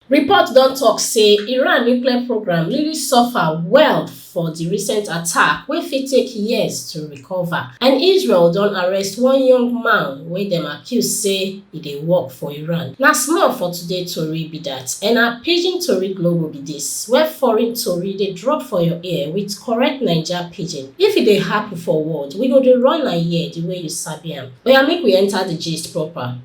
Report don tok say Iran nuclear programme really suffer well for di recent attack wey fit take years to recover, and Israel don arrest one young man wey dem accuse say e dey work for Iran. Na small for today tori be dat and na Pidgin Tori Global be dis, where foreign tori dey drop for your ear with correct Naija pidgin. If e dey happen for world, we go dey run am here di way you sabi am. Oya make we enter di gist proper.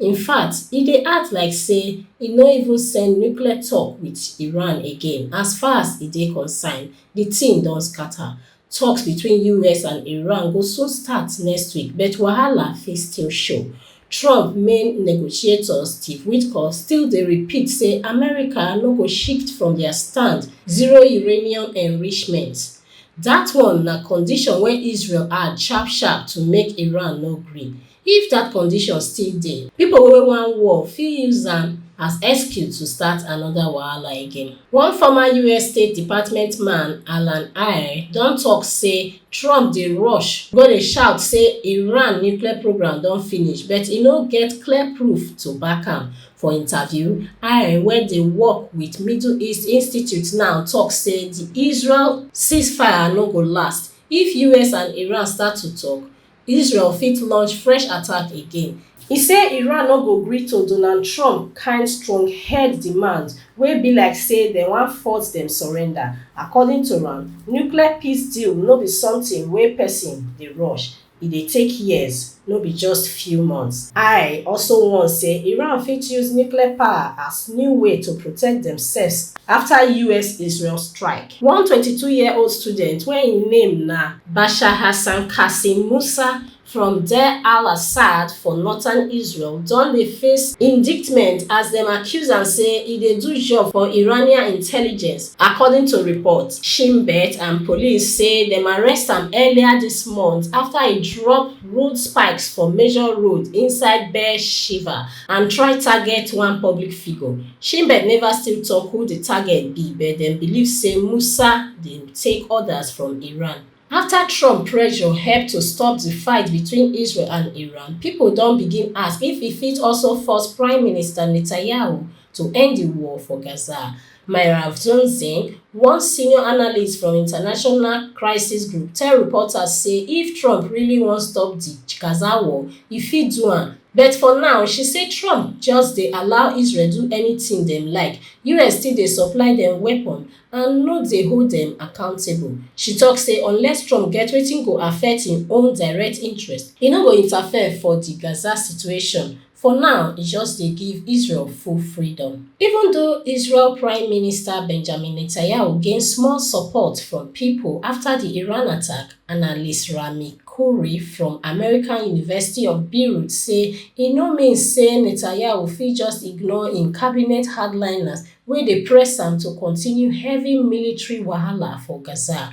In fact, e dey act like say e no even send nuclear talk with Iran again, as far as e dey concerned, the thing don scatter. Talks between US and Iran go soon start next week but wahala fit still show. Trump main negotiator Steve Witkoff still dey repeat say America no go shift from their stand, zero uranium enrichment. That one na condition wey Israel add sharp sharp to make Iran no gree. If dat condition still dey, pipo wey wan war fit use am as excuse to start anoda wahala again. One former us State Department man, Alan Eyre, don tok say Trump dey rush go dey shout say Iran nuclear programme don finish but e no get clear proof to back am. For interview, Eyre wey dey work wit Middle East Institute now tok say di Israel ceasefire no go last. If us and Iran start to tok, Israel fit launch fresh attack again. E say Iran no go gree to Donald Trump kind stronghead demands wey be like say dem wan force dem surrender. According to am, nuclear peace deal no be something wey person dey rush, e dey take years, no be just few months. I also warn say Iran fit use nuclear power as new way to protect demselves after US-Israel strike. One twenty two year old student wey im name na Bashar Hassan Qasim Musa from Deir al-Assad for northern Israel don dey face indictment as dem accuse am say e dey do job for Iranian intelligence, according to reports. Shin Bet and police say dem arrest am earlier dis month afta e drop rude spikes for major road inside Be'er Sheva and try target one public figure sheinbaum neva still tok who di target be but dem believe say musa dey take orders from iran afta trump pressure help to stop di fight between israel and iran pipo don begin ask if e fit also force prime minister netanyahu to end di war for gaza Myra Vdunzin, one senior analyst from international crisis group tell reporters say if Trump really wan stop di Gaza war, e fit do am. But for now, she say Trump just dey allow Israel do anything dem like, us still dey supply dem weapons and no dey hold dem accountable. She talk say unless Trump get wetin go affect im own direct interest, e no go interfere for di Gaza situation. For now, e just dey give Israel full freedom. Even though Israel Prime Minister Benjamin Netanyahu gain small support from pipo afta di Iran attack, analyst Rami Khouri from American University of Beirut say e no mean say Netanyahu fit just ignore im cabinet hardliners wey dey press am to continue heavy military wahala for Gaza.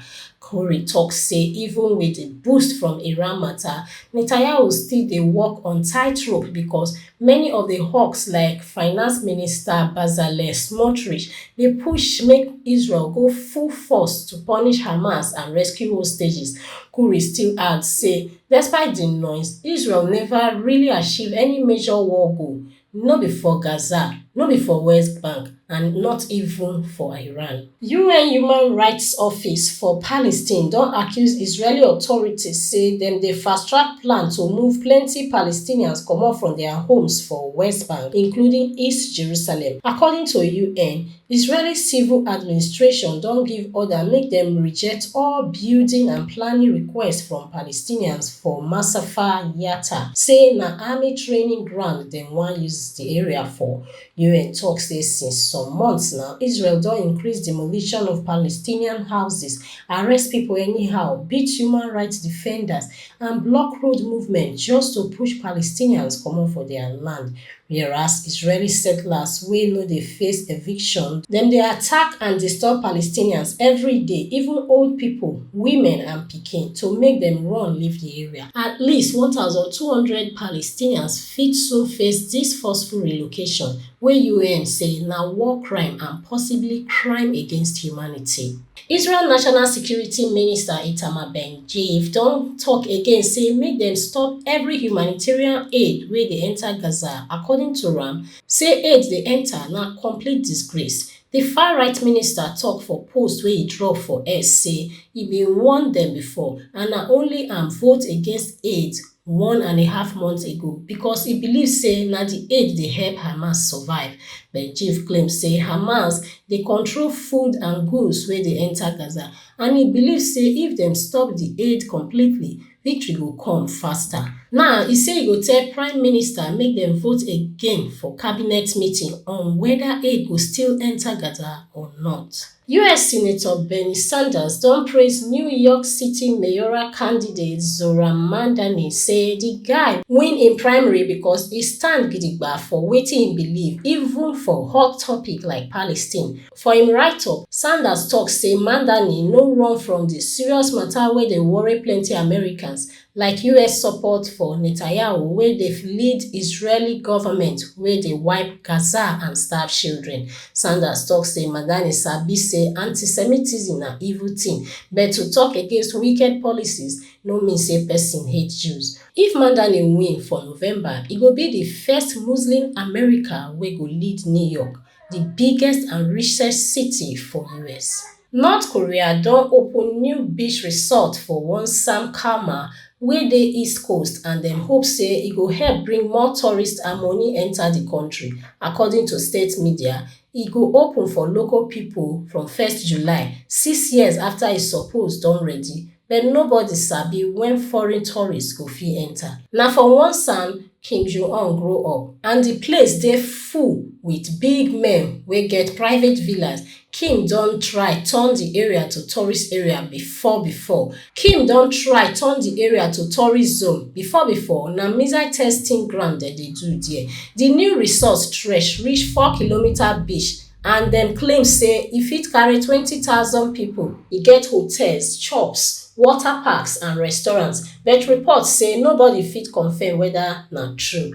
Kouri tok say even wit di boost from Iran mata, Netanyahu still dey walk on tight rope because many of di hawks like finance minister Bezalel Smotrich dey push make Israel go full force to punish Hamas and rescue hostages. Kouri still add say despite di noise, Israel neva really achieve any major war goal no be for gaza no be for west bank and not even for iran un human rights office for palestine don accuse israeli authorities say dem dey fast-track plan to move plenty palestinians comot from dia homes for west bank including east jerusalem according to un Israeli civil administration don give order make dem reject all building and planning requests from Palestinians for Masafer Yatta, say na army training ground dem wan use di area for. UN tok say since some months now, Israel don increase demolition of Palestinian houses, arrest pipo anyhow, beat human rights defenders and block road movement just to push Palestinians comot for dia land. Whereas Israeli settlers wey no dey face eviction, dem dey attack and disturb Palestinians every day, even old pipo, women and pikin, to make dem run leave di area. At least one thousand two hundred Palestinians fit soon face dis forceful relocation, wey UN say na war crime and possibly crime against humanity. israel national security minister itamar bengvir don tok again say make dem stop evri humanitarian aid wey dey enta gaza according to am say aid dey enta na complete disgrace di farright minister tok for post wey e drop for x say e bin warn dem bifor and na only am vote against aid one and a half months ago becos e believe say na di aid dey help hamas survive but im chief claim say hamas dey control food and goods wey dey enta gaza and e believe say if dem stop di aid completely victory go come faster. Now e say e go tell prime minister make dem vote again for cabinet meeting on weda aid go still enta gaza or not. Us Senator Bernie Sanders don praise New York City mayoral candidate Zohran Mamdani say di guy win im primary because e stand gidigba for wetin im believe even for hot topic like Palestine. For im write-up, Sanders tok say Mamdani no run from di serious mata wey dey worry plenty Americans, like us support for netanyahu wey dey lead israeli goment wey dey wipe gaza and starve children sanders tok say madani sabi say antisemitism na evil tin but to tok against wicked policies no mean say pesin hate jews if madani win for november e go be di first muslim american wey go lead new york di biggest and richest city for us North Korea don open new beach resort for Wonsan Kalmar wey dey east coast and dem hope say e go help bring more tourists and money enter di country, according to state media. E go open for local pipo from 1st July, six years afta e suppose don ready. but nobody sabi wen foreign tourists go fit enta. Na for Wonsan Kim Jong-un grow up and di place dey full wit big men wey get private villas, Kim don try turn di area to tourist area bifor bifor. Kim don try turn di area to tourist zone bifor bifor, na missile testing ground dem dey do dia. Di new resort stretch reach four kilometres beach. and dem claim say e fit carry 20000 pipo e get hotels shops water parks and restaurants but reports say nobody fit confam weda na true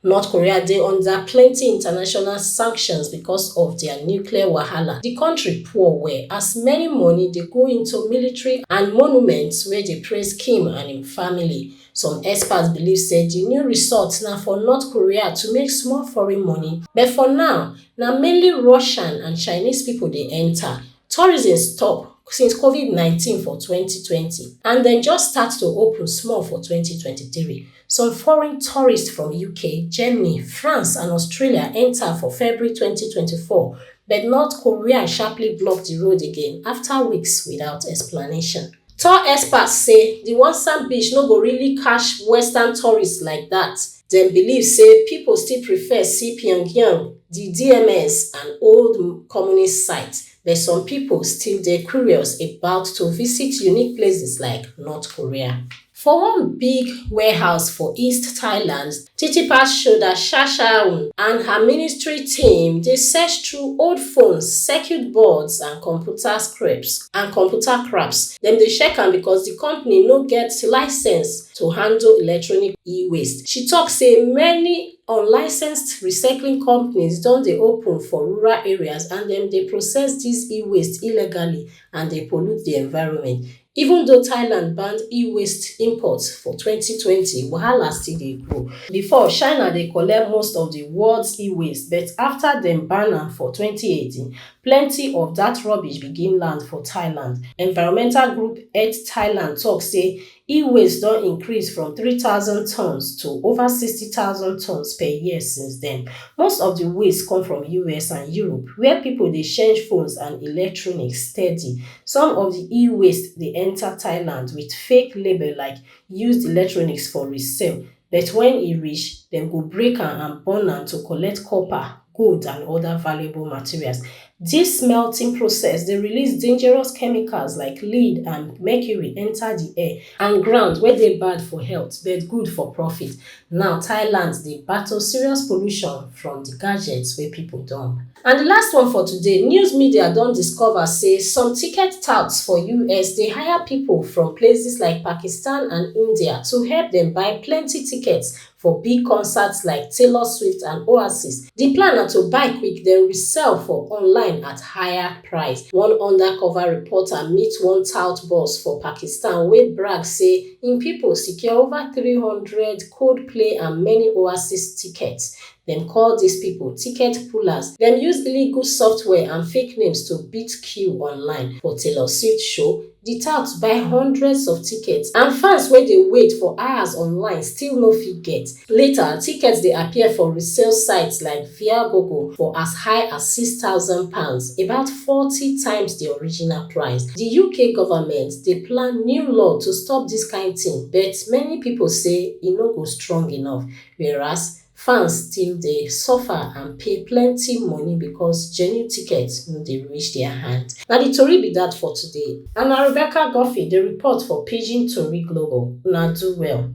north korea dey under plenti international sanctions becos of dia nuclear wahala di kontri poor well as many money dey go into military and monuments wey dey praise kim and im family. Some experts believe say di new resort na for North Korea to make small foreign money, but for now, na mainly Russian and Chinese pipo dey enta. Tourism stop since Covid nineteen for twenty twenty and dem just start to open small for twenty twenty three. Some foreign tourists from UK, Germany, France and Australia enta for February twenty twenty four, but North Korea sharply block di road again afta weeks without explanation. Tour experts say di Wonsan Beach no go really catch Western tourists like dat, dem believe say pipo still prefer see Pyongyang, di DMZ and old Communist sites, but some pipo still dey curious about to visit unique places like North Korea. For one big warehouse for East Thailand, Titi pass shoulder sha sha um and her ministry team dey search through old phones, circuit boards and computer scraps and computer craps, dem dey check am because di company no get licence to handle electronic e-waste. She tok say many unlicensed recycling companies don dey open for rural areas and dem dey process dis e-waste illegally and dey pollute di environment. Even though Thailand ban e-waste imports for twenty twenty, wahala still dey go. Before, China dey collect most of di world's e-waste, but afta dem ban am for twenty eighteen, plenty of dat rubbish begin land for Thailand. Environmental group Earth Thailand tok say e-waste don increase from three thousand tonnes to over sixty thousand tonnes per year since den. Most of di waste come from US and Europe, wia pipo dey change phones and electronics steady. Some of di e-waste dey enta Thailand wit fake label like used electronics for resale, but wen e reach, dem go break am and burn am to collect copper, gold and oda valuable materials. Dis smelting process dey release dangerous chemicals like lead and mercury enta di air and ground wey dey bad for health but good for profit. Now Thailand dey battle serious pollution from di gadgets wey pipo don. And di last one for today, news media don discover say some ticket touts for us dey hire pipo from places like Pakistan and India to help dem buy plenty tickets for big concerts like Taylor Swift and Oasis. Di plan na to buy quick den resell for online at higher price. One undercover reporter meet one tout boss for Pakistan wey brag say, im pipo secure ova three hundred coldplay and many oasis tickets dem call dis pipo ticket pullers dem use illegal software and fake names to beat queue online for taylor swift show di touts buy hundreds of tickets and fans wey dey wait for hours online still no fit get Later, tickets dey appear for resale sites like Viagogo for as high as £6,000, about forty times di original price. Di UK government dey plan new law to stop dis kain tin but many pipo say e no go strong enough, whereas fans still dey suffer and pay plenty money because genuine tickets no dey reach dia hands. Na di tori be dat for today and na Rebecca Guffey dey report for Pidgin Tori Global. Una do well.